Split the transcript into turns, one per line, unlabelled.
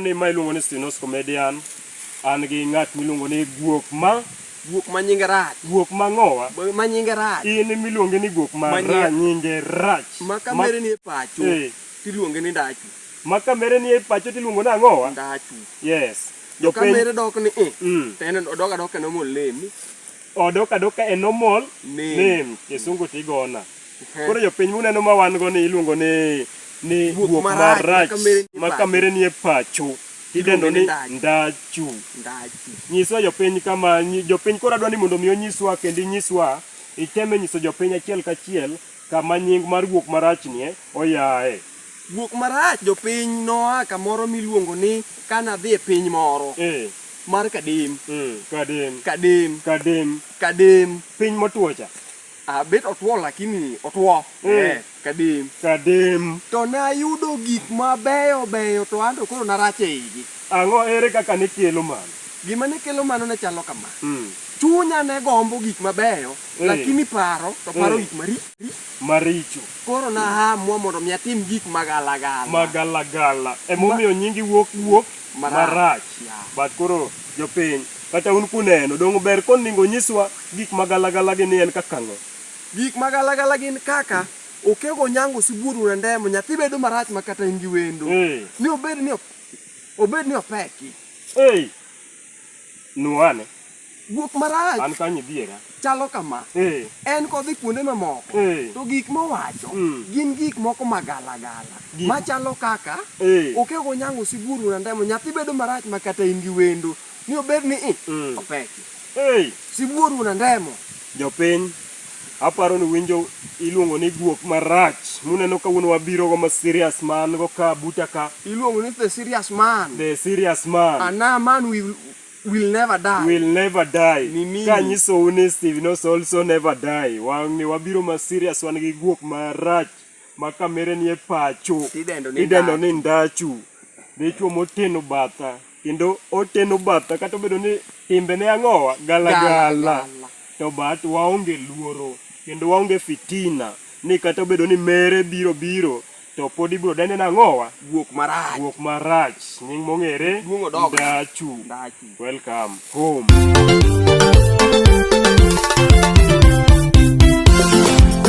ni ma iluongo ni Stinos Comedian an gi ng'at miluongo ni Guok ma Guok ma
nyinge rach. Guok ma ng'owa.
Ma nyinge rach.
In miluonge ni guok
ma ra nyinge rach. Ma kamere ni e
pacho. Eh. Tiluonge ni ndachu. Ma kamere ni e
pacho tiluongo ni ang'owa. Ndachu. Yes. Jo kamere
dok ni i. Eh. Mm. Tene odok adoka no molemi. Odok adoka
e normal name, name. Kisungu tigona. Koro jopiny muneno ma wan go ni iluongo ni ni guok marach ma kamere nie pacho idendo ni ndachu. Nyiswa jopiny kama jopiny koro adwa ni mondo mi onyiswa kendo inyiswa iteme nyiso jopiny achiel kachiel Kama nying mar guok marachnie oyae. Guok marach
jopiny noa kamoro miluongo ni kana dhi e piny moro. Eh. Mar Kadim. Mm, Kadim. Kadim. Kadim. Kadim. Piny motwo cha.
Ah, bet otwo
lakini otwo. Mm. Eh, Kadim. Kadim. To nayudo gik mabeyo beyo to anto koro narach e igi. Ang'o? Ere kaka
ne kelo mano? Gima ne kelo mano
ne chalo kama. Mm. Chunya ne gombo gik mabeyo, Eh. lakini paro to paro Eh. gik maricho. Maricho.
Koro
nahamwa mondo mi atim gik magalagala. Magalagala.
Emomiyo nyingi wuok wuok Marach. marach. Yeah. But koro jopiny, kata un kuneno, dongo ber koningo nyiswa gik magalagala gi ni en kaka ng'o. Gik magalagala
gin kaka okego nyango sibuoru na ndemo, nyathi bedo marach ma kata in gi wendo. Eh. Ni obed ni ok Obed ni opeki. Ei.
Nuane. Guok
marach. An kanyo diera.
Chalo kama.
Ee. En kodhi kuonde mamoko. Ee. To gik mowacho mm. gin gik moko magalagala. Machalo kaka. Ee. Okego nyango siburu na ndemo. Nyathi bedo marach makata in gi wendo. ni obed ni i mm. opeki hey. sibuor una ndemo jopiny
aparo ni winjo iluongo ni guok marach muneno ka wuon wabiro go ma serious man go ka buta ka iluongo ni the serious
man the serious man
ana man will
will never die will never die
ka nyiso uni steve no also never die wang ni wabiro ma serious wan gi guok marach ma kamere ni e pacho idendo ni ndachu dichuo moteno batha kendo oteno batha kata obedo ni timbe ne ang'owa galagala to bat waonge luoro kendo waonge fitina ni kata obedo ni mere biro biro to pod ibiro dende nang'owa guok marach guok
marach
nying mong'ere ndachu welcome home